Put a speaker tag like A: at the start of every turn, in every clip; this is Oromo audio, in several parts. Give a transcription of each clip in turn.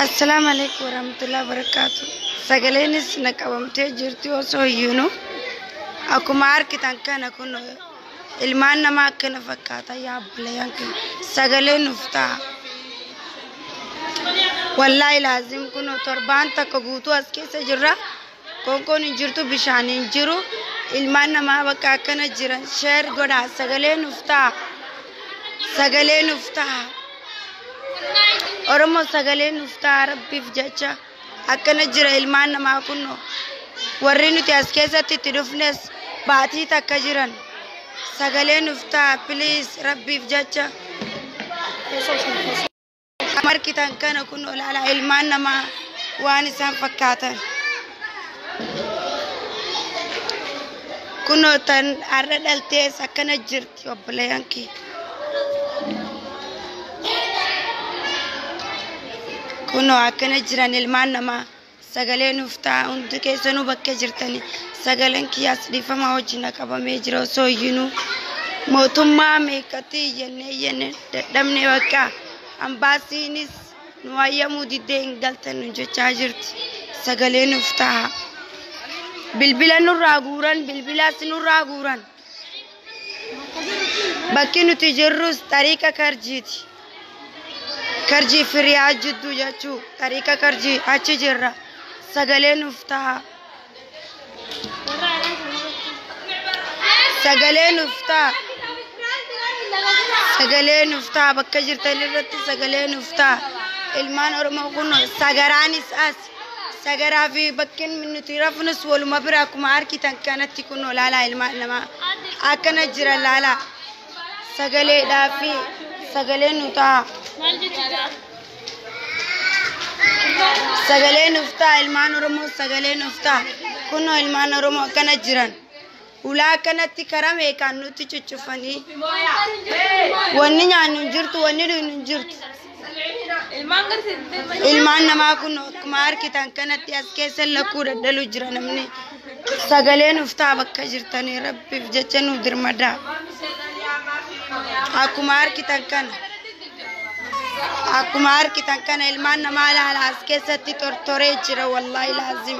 A: Assalaamu alaikum warahmatullahi wabarakatuh. Sagaleenis na qabamtee jirti osoo hiyyuunu akkuma argitan kana kun ilmaan namaa akkana fakkaata yaa obboleeyyan kun sagalee nuuf ta'a. Wallaahi laazim kun torbaan takka guutuu as keessa jirra Qoonqoon hin jirtu bishaan hin jiru ilmaan namaa bakka akkana jiran sheer godhaa sagalee nuuf ta'a sagalee nuuf ta'a oromoo sagalee nuuf ta'a rabbiif jecha akkana jira ilmaan namaa kunno warri nuti as keessatti itti dhufnes baatii takka jiran sagalee nuuf ta'a piliis rabbiif jecha. Kan argitan kana kun olaanaa ilmaan namaa waan isaan fakkaatan. Kunoo tan har'a dhaltees akkana jirti obboleeyyan kee. Kunoo akkana jiran ilmaan namaa. sagalee nuuf ta'a hundi keessanuu bakkee jirtani sagaleen kiyyaas dhiifama wajjin qabamee jira osoo iyyinuu mootummaa meeqatti iyyannee iyyannee dadhabne bakka ambaasiinis nu hayyamuu diddee hin galtan nu jechaa jirti sagalee nuuf ta'a bilbila nurraa guuran bilbilaas nurraa guuran Bakki nuti jirrus xariiqa karjiiti. Karjii fi riyaa jidduu jechuu xariiqa karjii achi jirra. Sagalee nuuf ta'a. Sagalee nuuf ta'a. Sagalee nuuf ta'a bakka jirtan irratti sagalee nuuf ta'a. Ilmaan Oromoo kun sagaraanis as. Sagaraa fi bakkeen nuti rafnus waluma bira akkuma argitan kanatti kunoo laalaa ilmaan namaa akkana jira laalaa sagaleedhaa fi sagalee nu ta'a. Sagalee nuuf ta'a ilmaan Oromoo sagalee nuuf ta'a kunoo ilmaan Oromoo akkana jiran. Hulaa akkanatti karaa meeqaan nutti cuccufanii. Wanni nyaannu hin jirtu, wanni dhugnu hin jirtu. Ilmaan namaa kun akkuma argitan kanatti as keessa lakkuu dadhalu jira namni. Sagalee nuuf ta'a bakka jirtanii rabbiif jecha nuuf dirmadaa. Akkuma argitan kana. Akkuma argitan kana ilmaan namaa laala as keessatti tortoree jira wallaahi laazim.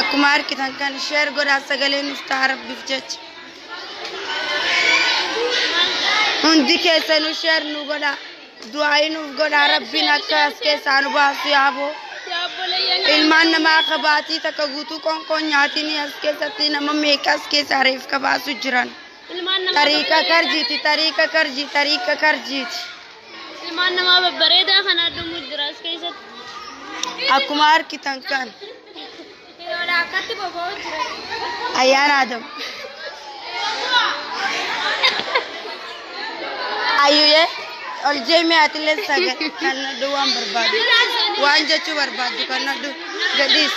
A: akkuma argitan kan sheer godhaa sagalee nuuf ta'a rabbiif jecha hundi keessanuu sheer nu godha du'aayi nuuf godha rabbiin akka as keessaa nu baasu yaaboo ilmaan namaa kabaatii takka guutuu qoonqoon nyaatiin as keessatti nama meeqa as keessaa reef kabaasu jiran tariika karjiiti tariika karjii tariika karjiiti. Ilmaan
B: namaa babbareedaa kan addumuu jira as keessatti. Akkuma
A: argitan kan Hiriyoodha akkatti boba'u jira. ayyaana Adam. Ayyuye ol jeemee atillee sagal kan nadhu waan barbaadu. Waan jechuu barbaaddu kan nadhu gadhiis.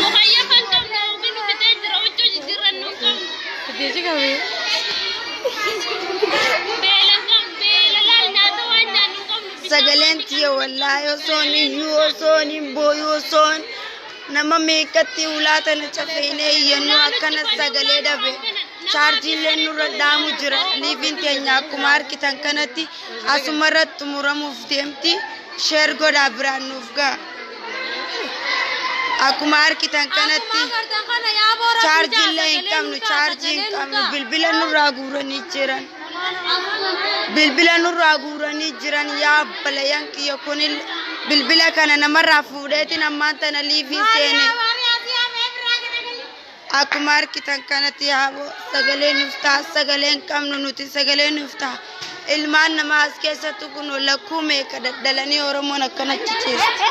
A: Mukayyoo kan qabnu hoogi nu fixee jira huccuu jijjiirran nu hin qabnu. Jechi qabe. Beela hin qabnu beela laal nyaata waan nyaannu hin qabnu. bishaan Sagaleen tiyya wallaahi osoon iyyuu osoon hin booyu osoon nama meeqatti ulaa tana cafeenee iyyannuu akkana sagalee dhabe. Chaarjiillee nurra dhaamu jira. Liiviin teenya akkuma argitan kanatti asumarratti xumuramuuf deemti. Sheer godhaa biraan nuuf ga'a. Akkuma argitan kanatti chaarjii illee hin qabnu chaarjii hin qabnu bilbila nurraa guuranii jiran. Bilbila nurraa guuranii jiran yaa balayan kiyya kun bilbila kana namarraa fuudheetiin ammaan tana liifii seene. Akkuma arkitan kanati haaboo sagalee nuuf ta'a sagalee hin qabnu nuti sagalee nuuf ta'a ilmaan namaa as keessattu kun lakkuu meeqa daddalanii oromoon akkanatti ciistu.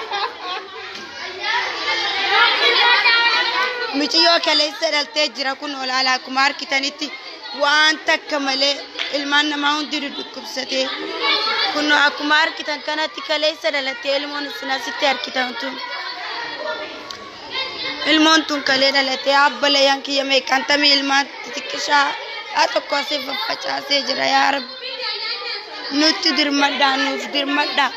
A: Miciyyoo kaleessa dhaltee jira kun olaala akkuma argitanitti waan takka malee ilmaan namaa hundi dhukkubsatee kun akkuma argitan kanatti kaleessa dhalattee ilmoon isin asitti argitan tun. Ilmoon tun kalee dhalatee abba layaan kiyya meeqaan tamii ilmaan xixiqqishaa haa tokko asii faffacaasee jira yaa rabbi nutti dirmadhaa nuuf dirmadhaa.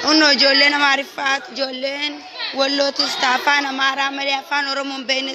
A: Kunoo ijoolleen amaariffaa ijoolleen wallootis taa afaan amaaraa malee afaan oromoon beekne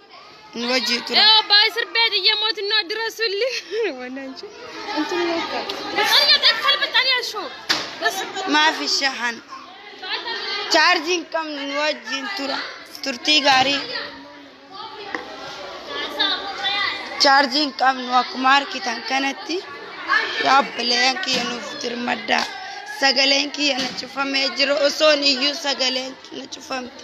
A: nu wajji tura. Yoo abbaa sirbee xiyya
B: mootinnoo dura sulli. Wannaan jee. Antun yoo akka. Xalya xakkal baxxanii ashoo. Bas. Maafi shahan.
A: Chaarjii hin qabnu nu wajjin tura. Turtii gaarii. Chaarjii hin qabnu akkuma argitan kanatti yaa obboleeyyan kiyya nuuf dirmaddaa. Sagaleen kiyya na cufamee jira osoon iyyuu sagaleen na cufamte.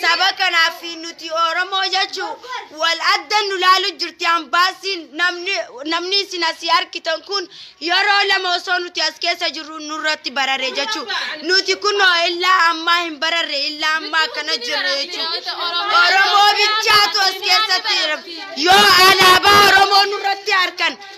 A: Saba kanaaf fi nuti Oromoo jechuu wal adda nu laalu jirti ambaasiin namni namni isin asii argitan kun yeroo lama osoo nuti as keessa jirru nurratti barare jechuu nuti kunoo illaa ammaa hin bararre illaa ammaa akkana jirra jechuu Oromoo bichaatu as keessatti yoo alaabaa Oromoo nurratti harkan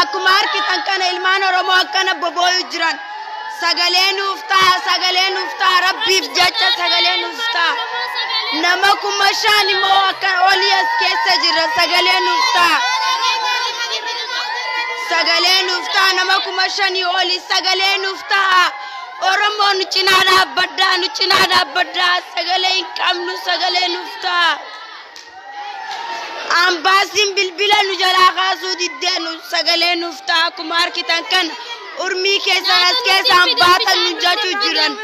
A: Akkuma harkitan kana ilmaan Oromoo akkana bobooyu jiran. Sagalee nuuf ta'a, sagalee nuuf ta'a, Rabbiif jecha sagalee nuuf ta'a. Nama kuma shan immoo akka olii as keessa jira, sagalee nuuf ta'a. Sagalee nuuf ta'a, nama kuma shanii olii sagalee nuuf ta'a. Oromoo nu cinaa dhaabbadhaa, nu cinaa dhaabbadhaa, sagalee hin qabnu, sagalee nuuf ta'a. Ambaasiin bilbila nu jalaa kaasuu diddee nu sagalee nuuf ta'a akkuma argitan kana urmii keessan as keessaan baasan nu jechuu jiran.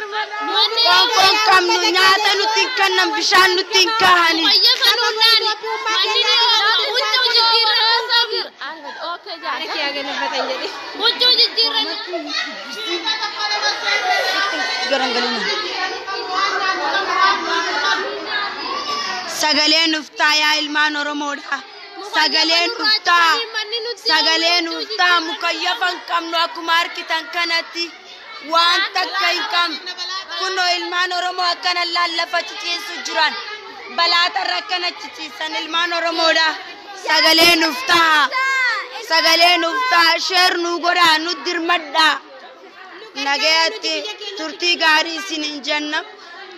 A: Qoonqoon qabnu nyaata nutti hin kennan bishaan nutti hin kaahani. Huccuu jijjiirran. Sagalee nuuf ta'a yaa ilmaan Oromoodha. Sagalee nuuf ta'a. Sagalee nuuf ta'a mukayyafa hin qabnu akkuma argitan kanatti waan takka hin qabnu. Kunoo ilmaan Oromoo akkana lallafa ciciisu jiran. Balaatarra akka nachiciisan ilmaan Oromoodha. Sagalee nuuf ta'a. Sagalee nuuf ta'a. Sheer nuu godhaa. Nu dirmadhaa. Nagayatti turtii gaarii isin hin jenna.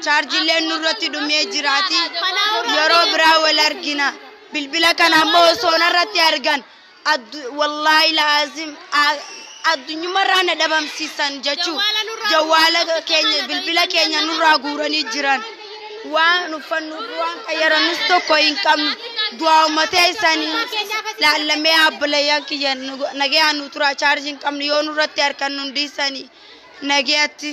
A: Chaarjilleen nurratti dhumee jiraati. Yeroo biraa wal argina. Bilbila kana ammoo osoo narratti argan. Addu wallaahi laazim addunyumarraa na dhabamsiisan jechuun jawwaala keenya bilbila keenya nurraa guuranii jiran waan uffannuuf waan fayyadamnus tokko hin qabnu du'aa uummatee isaanii laallamee abbalayaan kiyya nagayaan nu turaa chaarjii hin qabnu yoo nurratti harkan nu dhiisanii nagayatti.